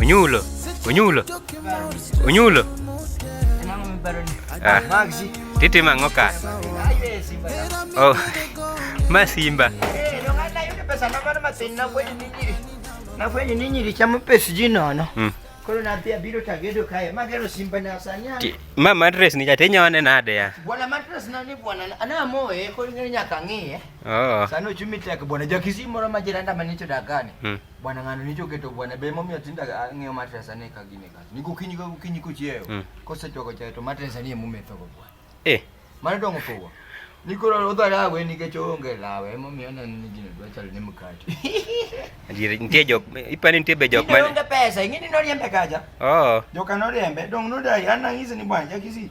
Onyulo, onyulo, onyulo. Ah, titi mang'o ka? Oh, ma simba. Nafwenyo ni nyiri chamo pes ji nono. Mm. Koro nathi abiro tagedo kae. Magero simba na sani. Ma matres ni jate nyone nade ya? Bwana matres na ni bwana. Ana moye koro nyaka ng'iye. Oh. Sani ochumi tek bwana jakisi moro ma jiranda ma nicho dakani. Hmm. Bwana ng'ano nicho keto bwana be momiyo tinda ng'eyo matres ane ka gine ka. Ni gokinyi ka gokinyi kochieyo. Hmm. Kosechoko chayo to matres ane mume to bwana. Eh. Mano dongo pogo. Ni koro odho lawe nikech oonge lawe momiyo aneno ni gino dwa chalo ni mkate. Adier nitie jok ipani nitie be jok mane. Onge pesa ing'e ni noriembe kaja. Oh. Joka noriembe dong nodai an nang'ise ni bwana jakisi.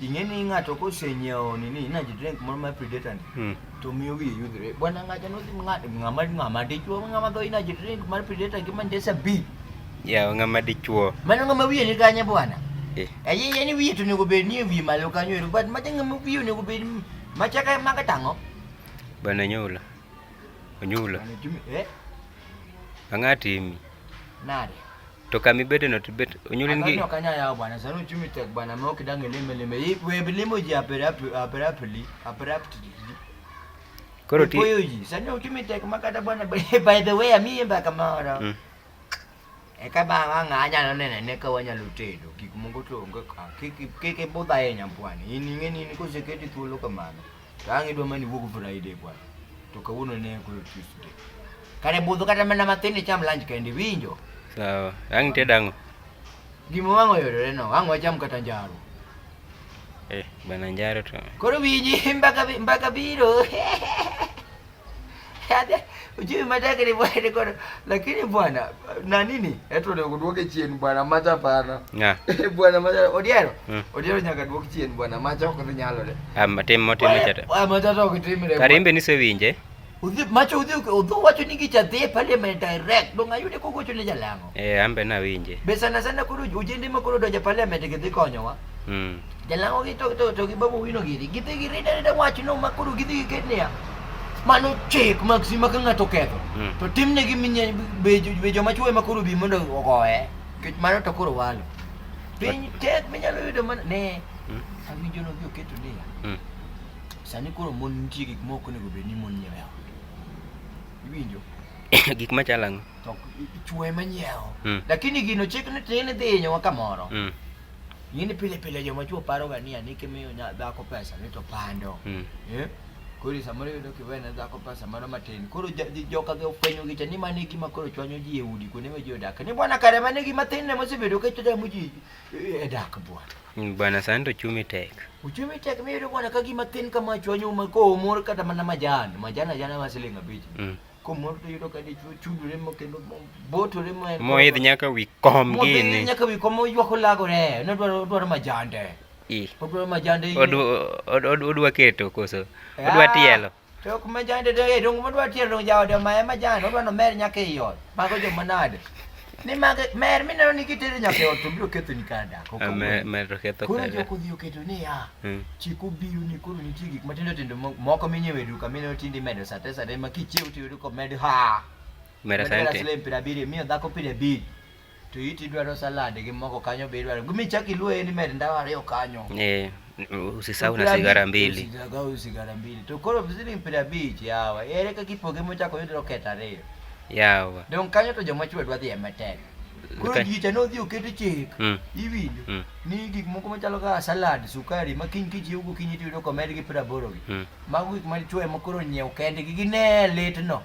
ing'e ni ng'ato kosenyiewo nini energy drink moro mar predator ni Hmm. to miyo wiye yudhre bwana ng'acha nodhi ng'a- ng'ama ng'ama dichuo ng'ama dho energy drink mar predator gi mandesa b Yawa ng'ama dichuo. mano ng'ama wiye ni kanye bwana Eh. ayiye ni wiye to onego bed ni e wiye malo kanyo ero but macha ng'ama wiye onego bed ni- macha ka maka tang'o Bwana Nyula. Onyula. Bwana Jimmy, eh Ang'atimi. nade To kama ibede no to bet onyuli ngi. Anyo kanya yao bwana, sasa uchumi tek bwana, mwa kidange lime lime. Hii we bilimo ji apera apera pili, apera pili. Koro ti. Koyo ji, sasa uchumi tek makata bwana by the way ami yemba kama ora. Mm. Eka ba wanga anya no nene ne ka wanya lutedo. Kik mungu to ngo ka. Kik kik bodha yenya bwana. Ini ngeni ni kuseketi tulo kamano. Tangi dwa mani wuok Friday bwana. To kawuono ne ko Tuesday. Kare budho kata mana matin icham lunch kende winjo. Sawa. Ang te dango. Gimo wango yore no, ang wacham kata njaro. Eh, bana njaro to. Koro winji mbaka mbaka biro. Ujui mataka ni bwana ni kono. Lakini bwana na nini? Eto ndio kuduoke chini bwana macha pana. Yeah. bwana macha odiero. Mm. Odiero nyaka duoke chini bwana macha ko nyalo le. Ah matem matem chata. Ah macha to kitimre. Karimbe ni sewinje. Udhi macho udhi udhu wacho ni gicha dhi pale me direct donga yude kogocho ne jalango. Eh ambe na winje. Be sana sana kuru ujende makuru doja pale me dhi konyowa. mm. jalango gi to to to gi babu wino giri gidhi gi rida rida wach no ma koro gidhi gi niya mano chik mag si ma ka ng'ato ketho mm. to timne gi minye be joma chwe ma koro bi mondo ogoye kech mano to koro walo piny tek minyalo yudo mana ne mm. awinjo no gi oketo niya mm. sani koro mon nitie gik ma ok onego bed ni mon nyiewo iwinjo gik machalo ang'o to ichwe manyiewo mm. lakini gino chik ni tin idhi hinyowa kamoro mm. Ng'eni pile pile joma chuo paroga ni ani kimiyo dhako pesa ni to pando. Mm. Eh? Koro samoro yudo kiwene dhako pesa mano matin. Koro joka gi ofwenyo gi cha ni mano e gima koro chwanyo ji e udi kuonde ma ji odak. Ni bwana kare mano e gima tin ne mosebedo ka chutamo ji e dak bwana. Mm, bwana sani to chumi tek. Uchumi tek miyudo bwana ka gima tin kama chwanyo ma komor kata mana majan. Majan ajana ma siling abich. Mm. komoro to yudo ka dichwo chudore mo kendo botore mo moidh nyaka wi kom gini nyaka wi kom oywak olagore ne dwaro dwaro majande odwaro majande odwa keto koso eh, odwa tielo to ok majande de dong odwa tielo dong jaode ma majande odwa no mer nyaka iot mago jo manade ni mage mer mineno ni kitero nyaka ot to biro ketho ni kar dak ok mer mer to ketho koro jok odhi oketo ni ya hmm. chik obiro ni koro nitie gik matindo tindo moko minyewo e duka mineno tinde imedo sate sate ma kichiew to yudo komed ha medo sate siling piero abiriyo miyo dhako piero abich to iti idwaro salad gi moko kanyo be idwaro gumi chak iluoye ni med ndawa ariyo kanyo eh Usisahau na sigara mbili. Usisahau sigara mbili. Tukoro vizuri mpira bichi yawa. Ere ka kipoge mocha ko yudro keta reyo. Yawa. Don kanyo to joma chwe dwadhi emetek. Koro ji cha nodhi oket chik. Mm. Iwinjo. Mm. Ni gik moko machalo ka salad, sukari ma kiny kich yugo kiny itiyo ko med gi praboro gi. Mm. Mago gik ma chwe ma koro nyiew kendgi gine litno.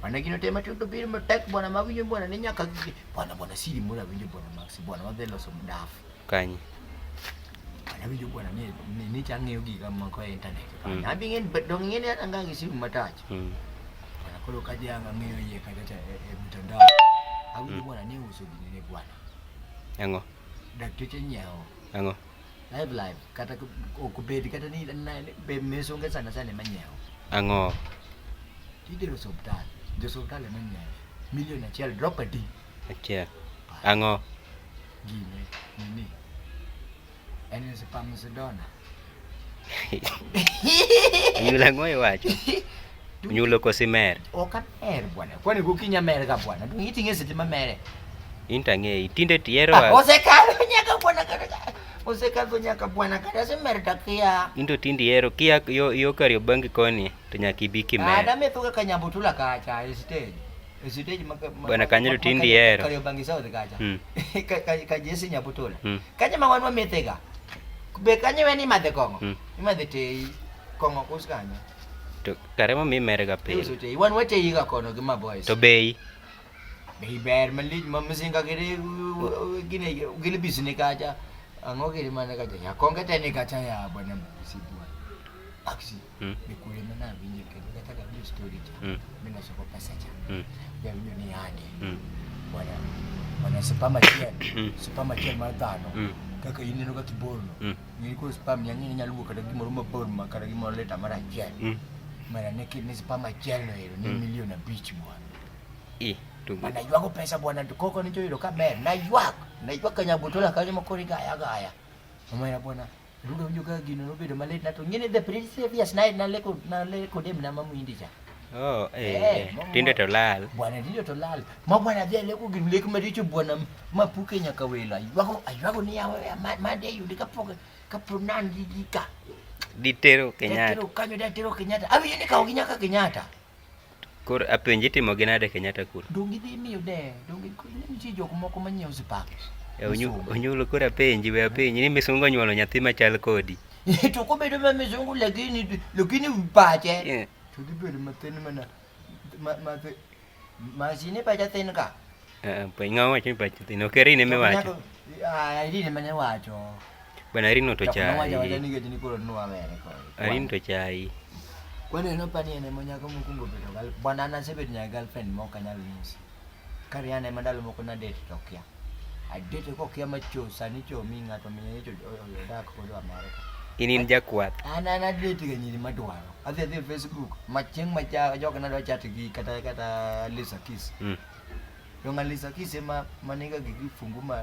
Bwana kino tema tundo biri matek bwana mawinyo bwana ni nyaka gigi. Bwana bwana siri mula winyo bwana Max bwana wadhi loso mdafu. Kanyi. Bwana winyo bwana ni ni ni chang'eyo giga moko e internet. Mm. Abi ng'en dong ng'en ya anga gi simu matach. Mm. Bwana kolo kaje anga ng'eyo ye kaje ta e, e mtandao. Awinyo mm. bwana ni uso gini ne bwana. Yango. Dakteche nyao. Yango. live live kata okbed kata ni be mes onge sana sana ema nyiewo ang'o idero osuptal jo osuptal ema nyiewo milion achiel drop adi achiel ang'o gine nini en spam sidona yula ng'o iwacho Unyulo kosi mer? Ok amer bwana. Kwani gokinyi amerga bwana? To iti ng'e seche mamere. In to ang'eyi. Tinde tihero Ah, Osekalo nyaka bwana kata. Osekalo nyaka bwana kata semer to akia. in to tinde ihero kia yo, yo Kariobangi koni to nyaka ibi Ah, kimer. dametho kaka Nyambutula kacha e stage. E stage ma ma- Bwana Kanyo to tinde ihero. Kariobangi South kacha. Mm. Ka- ka- Ka Jesse Nyambutula. Mm. Kanye ma wan wamethega. Be kanye weni madhe kong'o? Mm. Imadhe tei. Kong'o kus kanyo. To kare ma mi mere ga piny. Uso tei. Wan wache yiga kono gi ma boys. To bei. Bei ber malich ma mzinga gire gine gile bisine kacha. Ango gire mana kacha. Ya konge tene kacha ya bwana msibwa. Aksi. Mm. Ni kule mana vinje kene. Nataka hiyo story cha. Mm. Mimi nasoko pesa cha. Mm. Ya vinyo ni hadi. Mm. Bwana. Bwana sipama chien. Mm. Sipama chien mara tano. Mm. Kaka yineno ka kiborno. Mm. Ng'eyo koro spam ya ng'eyo nyalo wuok kata gimoro mabor ma kata gimoro lita mar achiel. Mm. Mara ne kid ni spam achiel no ero ni milion abich bwana. Eh, to Ma naywago pesa bwana to koko ni joyudo ka ber. Naywak. Naywak ka nyabutola kanyo ma koro igaya gaya. Omera bwana. Rudo winjo ka gino nobedo malit na to ng'e ni the previous night naleko naleko dem na mamuindi cha. Oh, eh, eh, eh, eh tindo to lal. Bwana tindo to lal. Ma bwana vya leko gin leko maricho bwana mapuke nyaka wela. Ywago aywago ni yawe mande yundi kapoke kapronan didika. Ditero Kenyatta. Ditero kanyo ditero Kenyatta. Abi yini kawo ginyaka Kenyatta. Kor apenji timo gi nade Kenyatta kur. Dongi dhi miyo de. Dongi nitie jok moko manyiewo sipaki. E, onyulo kor apenji we apenji ni misungo nyuolo nyathi machal kodi. To kobedo ma misungo lakini lakini pache. Yeah. To dhi bedo mathin mana ma ma thi- masini pacha thin ka. Ah, Piny ng'a wacho ni pacho thin. Ok Irene eme wacho. Ah, Irene mane wacho. Bwana Irene to Chak nowacho wacha chai. ni gechni koro nwa mere koro. Irene to chai. Kwani en opani en ema nyako mokwongo bedo gal. Bwana an asebet nyaka girlfriend ma ok anyal nyisi. Kare an ema ndalo moko nadate to kia. Adate ko kia macho sani cho mi ng'ato mi cho odak kodo Amerika. In in jakwath. An an adate ga nyiri madwaro. Adhi adhi e Facebook macheng macha joka nadwa chat gi kata kata Lisa Kiss. Mm. Yonga Lisa Kiss ema maniga gi kifungu ma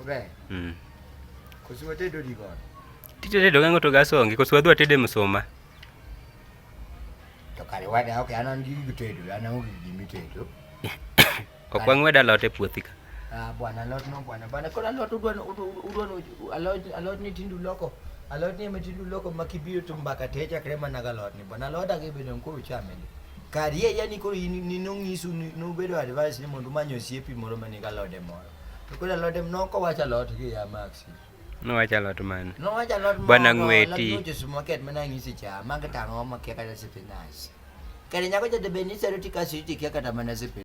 Obe. Mm. Kusiwa tedo digon. Tite tedo gango to gasongi kusiwa dwa tede msoma. To kare wada ok anan gi gitedo anan onge gi mitedo. Ok wang'weda lot e puothi ka. Ah bwana lot no bwana bwana kora lot udwa udwa alot alot ni tindu loko. Alot ni mtindu loko makibiro to mbaka te chakre mana galot ni bwana alot agi bedo nkuru chameli. Karie yani koro ni nongisu ni nobedo advice ni mondo manyo siepi moro maniga lode moro. To kula lot em noko wacha lot gi ya Maxi. No wacha lot man. No wacha lot man. Bwana ngweti. Lot nuju supermarket mana ngisi cha manga tango makia kata sipinach. Kare nyako jade beni sero tika siti kia kata mana sipinach.